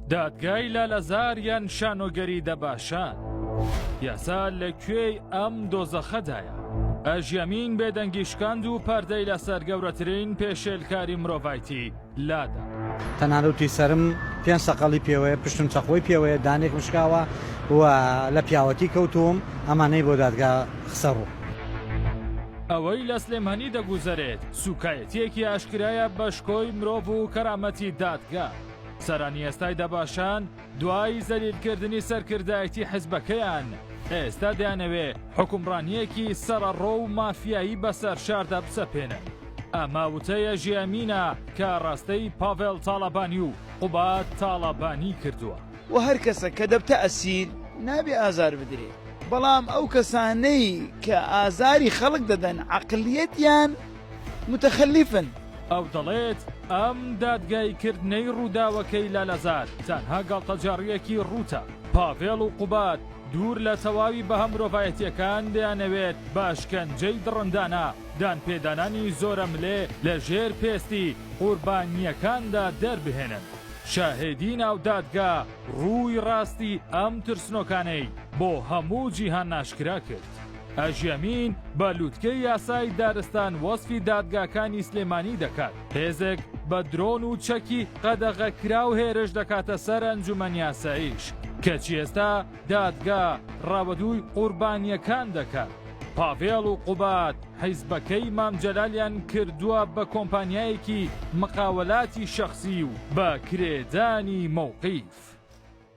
دادگای لالەزار یان شانۆگەری دەباشان یاسا لە کوێی ئەم دۆزەخەدایە ئەژیەمین بێدەنگی شکاند و پەردەی لەسەر گەورەترین پێشێلکاری مرۆڤایتی لادا تەنانەتی سرم پێنج سەقەڵی پێوەیە پشتم چەقۆی پێوەیە دانێک مشکاوە و لە پیاوەتی کەوتووم ئەمانەی بۆ دادگا خسەڕوو. ئەوەی لە سلێمانی دەگوزەرێت سوکایە تیەکی ئاشکرایە بە شکۆی مرۆڤ و کەرامەتی دادگا. سەرانی ئێستای دەباشان دوای زەلیلکردنی سەرکردایەتی حزبەکەیان، ئێستا دەیانەوێ حکومڕانییەکی سەڕەڕۆ و مافیایی بەسەر شاردا بسەپێنن. ئەمە وتەیە ژیامینە کە ڕەستەی پاڤێڵ تاڵەبانی و قوباد تاڵەبانی کردووە. و هەر کەسەک کە دەبتە ئەسیر، نابێ ئازار بدرێ. بەڵام ئەو کەسانەی کە ئازاری خەڵک دەدەن، عەقڵیەتیان متخلفن. ئەو دەڵێت ئەم دادگای کردنەی ڕووداوەکەی لالەزار تەنها گاڵتەجاڕییەکی ڕووتە. پاڤێڵ و قوباد دوور لە تەواوی بەها مرۆڤایەتییەکان دەیانەوێت بە ئەشکەنجەی دڕندانە دانپێدانانی زۆرەملێ لە ژێر پێستی قوربانییەکاندا دەربهێنن. شاهێدی ناو دادگا ڕووی ڕاستی ئەم ترسنۆکانەی بۆ هەموو جیهان ئاشکرا کرد. ئەژەمین بە لوتکەی یاسای دارستان وەسفی دادگاکانی سلێمانی دەکات هێزێک بە درۆن و چەکی قەدەغەکراو هێرش دەکاتە سەر ئەنجومەن یاسایش کەچی ئێستا دادگا ڕاوەدووی قوربانیەکان دەکات پاڤێڵ و قوباد حیزبەکەی مامجەلالیان کردووە بە کۆمپانیایەکی مقاوەلاتی شەخصی و بە کرێدانی مەوقیف.